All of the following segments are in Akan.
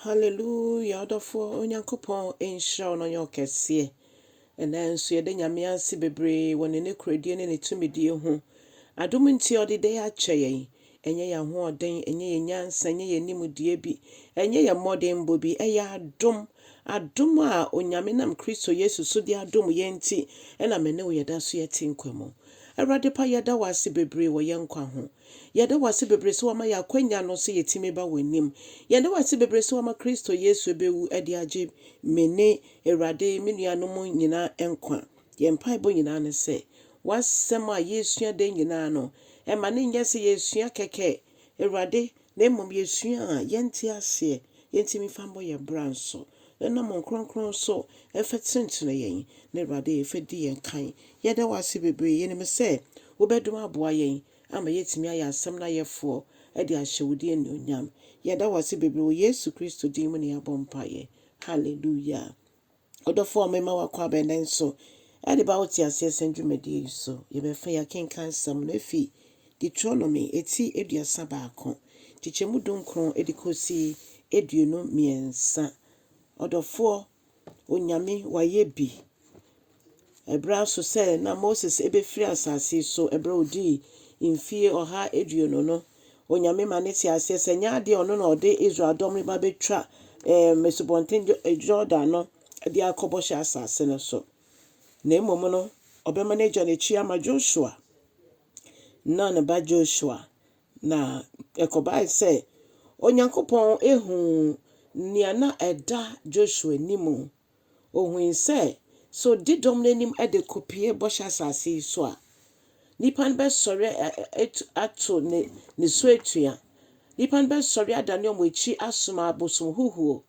Hallelujah ɔdɔfoɔ Onyankopɔn nhyira wo na ɔnyɛ wo kɛseɛ. Ɛnɛ nso yɛda Nyame ase bebree wɔ ne nokorɛdie ne ne tumidie ho. Adom nti ɔde dɛn akyɛ yɛn? Ɛnyɛ yɛn ahoɔden, ɛnyɛ yɛn nyansa, ɛnyɛ yɛn nimdeɛ bi, ɛnyɛ yɛn mmɔdenbɔ bi, ɛyɛ adom. Adom a Onyame nam Kristo Yesu so de adom yɛn nti na me ne wo yɛda so yɛte nkwa mu. Awurade pa yɛda wo ase bebree wɔ yɛn nkwa ho. Yɛda wo ase bebree sɛ woama yɛn akwanya no sɛ yɛtumi ba w'anim. Yɛda wo ase bebree sɛ woama Kristo Yesu bɛwu de agye me ne Awurade me nuanom nyinaa nkwa. Yɛn mpaebɔ nyinaa ne sɛ w'asɛm a yɛresua da nyinaa no, mma no nyɛ sɛ yɛresua kɛkɛ, Awurade, na mmom yɛsua a yɛnte aseɛ, yɛntumi mfa mmɔ yɛn bra nso. Nna mo nkrɔnkrɔn so fɛ tsentsena yɛn, na Ewuradze fɛ di yɛn kan. Yɛda wo ase beberee, yɛnim sɛ wo bɛdom aboa yɛn ama yɛatumi ayɛ asɛm no ayɛfoɔ de ahyɛ wo din anuonyam. Yɛda wo ase beberee wɔ Yesu Kristo din mu na yɛabɔ mpaeɛ. Hallelujah. Ɔdɔfoɔ me ma wakɔ abɛn nɛ nso de ba wo teaseɛ sɛn dwumadie yi so. Yɛbɛfa yɛakenkan sɛm no afi Deuteronomy eti aduasa baako, nkyekyɛmu dunkron de kosi aduonu mmiɛnsa. Ɔdɔfoɔ, Onyame, wayɛ bi. Ɛberɛ ara nso sɛ na Moses rebɛfiri asase yi so, ɛberɛ a ɔdii mfeɛ ɔha aduonu no, Onyame ma no tee aseɛ sɛ ɛnyɛ adeɛ a ɔno na ɔde Israel dɔm no ba bɛtwa ɛɛm Asubɔnten Jordan no de akɔ bɔhyɛ asase no so, na mmom no, ɔbɛma no agya n'akyi ama Joshua. Nun ba Joshua. Na ɛkɔbae sɛ Onyankopɔn huu nea na ɛda Joshua anim. Ohui sɛ, sɛ odi dɔm no anim de kopue Bɔhyɛ Asase yi so a, nnipa no bɛsɔre ato ne so atua. Nnipa no bɛsɔre adane wɔn akyi asom abosom huhuo.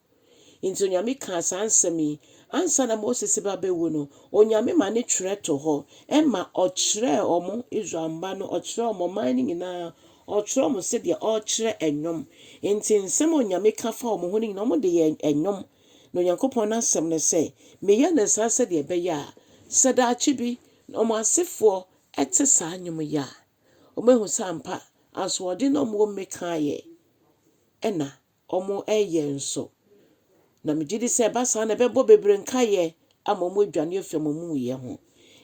Enti Onyame kaa saa nsɛm yi ansa na Moses ba bɛwu no, Onyame ma ne twerɛ to hɔ, ɛma ɔkyerɛɛ wɔn, Israel mma no, ɔkyerɛɛ wɔn ɔman no nyinaa, ɔkyerɛɛ wɔn sɛdeɛ ɔrekyerɛ ɛnwom. Enti nsɛm a Onyame ka faa wɔn ho no nyinaa, wɔde yɛɛ ɛnwom. Na Onyankopɔn n'asɛm ne sɛ, Meyɛ no saa sɛdeɛ ɛbɛyɛ a, sɛ daakye bi wɔn asefoɔ te saa nwom yi a, wɔbɛhu sɛ ampa asoɔden na wɔwɔ mu me kaeɛ na wɔyɛ nso. Na megye di sɛ ɛba saa na ɛbɛbɔ bebree nkaeɛ ama wɔadwane afi wɔn amumuyɛ ho.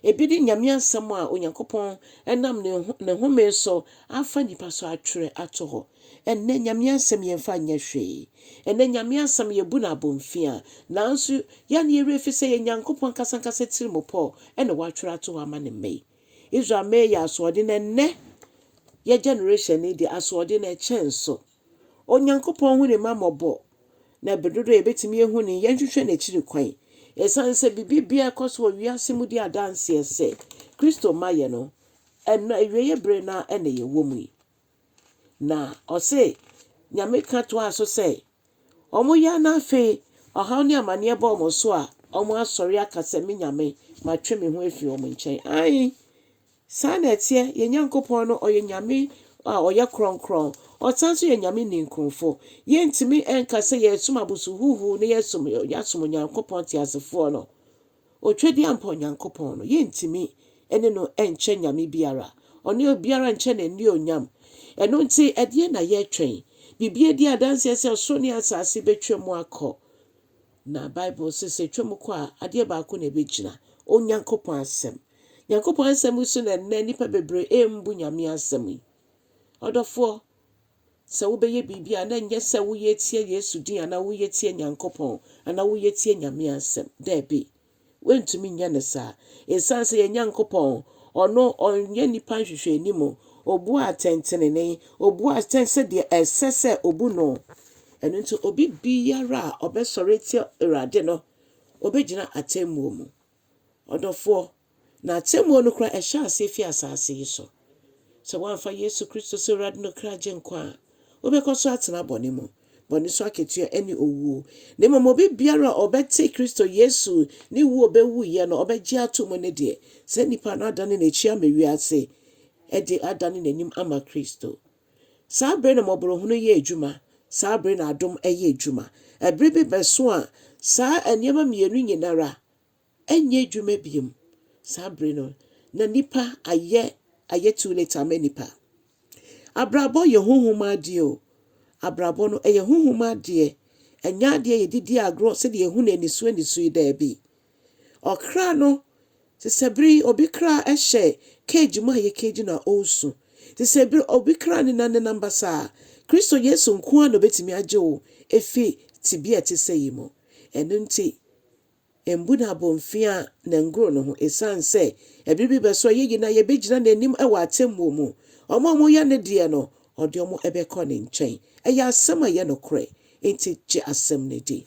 Ebi ne Nyame asɛm a Onyankopɔn nam ne ne home so afa nnipa so atwerɛ ato hɔ. Ɛnnɛ Nyame asɛm yɛmfa nyɛ hwee. Ɛnnɛ Nyame asɛm yɛbu no abomfiaa. Nanso yɛn a ne yɛwerɛ fi sɛ ɛyɛ Nyankopɔn ankasa ankasa tirimupɔ na watwerɛ ato hɔ ama ne mma yi. Israel mmɛ yɛ asoɔden ɛnnɛ. Yɛn generation yi deɛ asoɔden no ɛkyɛn so. Onyankopɔn hu ne mma mmɔbɔ, na bere dodow a yebetumi ahu no, yɛnhwehwɛ n'akyiri kwan. Esiane sɛ biribi biara a ɛkɔ so wɔ wiase mu di adanse sɛ Kristo mma yɛ no, ɛnnɛ awiei bere no ara na yɛwɔ mu yi. Na ɔse, Nyame ka toaa so sɛ, Wɔyɛ na afei ɔhaw ne amanneɛ ba wɔn so a, wɔasɔre aka sɛ, 'Me Nyame, matwe me ho afi wɔn nkyɛn. Aane! Saa na ɛteɛ, yɛn Nyankopɔn no, ɔyɛ Nyame a ɔyɛ krɔnkrɔn, ɔsan nso yɛ Nyame ninkunfo. Yɛntumi nka sɛ yɛresom abosohuhuw na yɛsom yɛasom Onyankopɔn teasefoɔ no, Otwadiampɔ Nyankopɔn no. Yɛntumi ne no nkyɛ Nyame biara. Ɔne obiara nkyɛ no annuonyam. Ɛno nti, ɛdeɛn na yɛretwɛn? Biribi adi adanseɛ sɛ ɔsoro ne asase bɛtwa mu akɔ. Na Bible se sɛ ɛtwam kɔ a, adeɛ baako na ɛbɛgyina, Onyankopɔn asɛm. Nyankopɔn asɛm yi so na ɛnnɛ nnipa bebree ɛmbu Nyame asɛm yi. Ɔdɔfoɔ, sɛ wobɛyɛ biribi a na ɛnyɛ sɛ woyɛ tia Yesu din anaa woyɛ tia Nyankopɔn anaa woyɛ tia Nyame asɛm. Daabi. Wontumi nyɛ no saa. Esiane sɛ yɛn Nyankopɔn, ɔno ɔnyɛ nnipa nhwehwɛanim, obu atɛntenenee, obu atɛn sɛdeɛ ɛsɛ sɛ obu no, ɛno nti obi biara a ɔbɛsɔre atia Awurade no, ɔbɛgyina atɛmmuo mu. Ɔdɔfoɔ, na atɛmmuo no koraa ɛhyɛ aseɛ firi asaase yi so. Sɛ woamfa Yesu Kristo sɛ Awurade ne ɔkra Agyenkwa a, wobɛkɔ so atena bɔne mu. Bɔne so akatua ne owuo. Na mmom obi biara a ɔbɛte Kristo Yesu ne wuo ɔbɛwuiɛ no, ɔbɛgye ato mu no deɛ, saa nipa no adane n'akyi ama wiase de adane n'anim ama Kristo. Saa bere na mmɔborɔhunu yɛ adwuma, saa bere na adom yɛ adwuma. Ɛbere bi bɛso a saa nneɛma mmienu nyinara Ɛnyɛ adwuma bio. Saa bere no, na nnipa ayɛ ayɛ too late ama nnipa. Abrabɔ yɛ honhom adeɛ o. Abrabɔ no, ɛyɛ honhom adeɛ. Ɛnyɛ adeɛ a yɛde di agorɔ sɛdeɛ yɛhu no aniso aniso yi, daabi. Ɔkra no, te sɛ bere yi obi kra hyɛ cage mu a yɛ cage no a ɔresu. Te sɛ bere obi kra nenam nenam basaa a, Kristo Yesu nko ara na ɔbɛtumi agye wo afi tebea a ɛte sɛ yi mu. Ɛno nti, Mbu n'abomfiaa na ngoro no ho, esiane sɛ ɛbere bi bɛso a yɛyi no a yɛbɛgyina n'anim wɔ atemmuo mu. Wɔn a wɔyɛ ne deɛ no, ɔde wɔn bɛkɔ ne nkyɛn. Ɛyɛ asɛm a ɛyɛ nokorɛ, enti gye asɛm no di.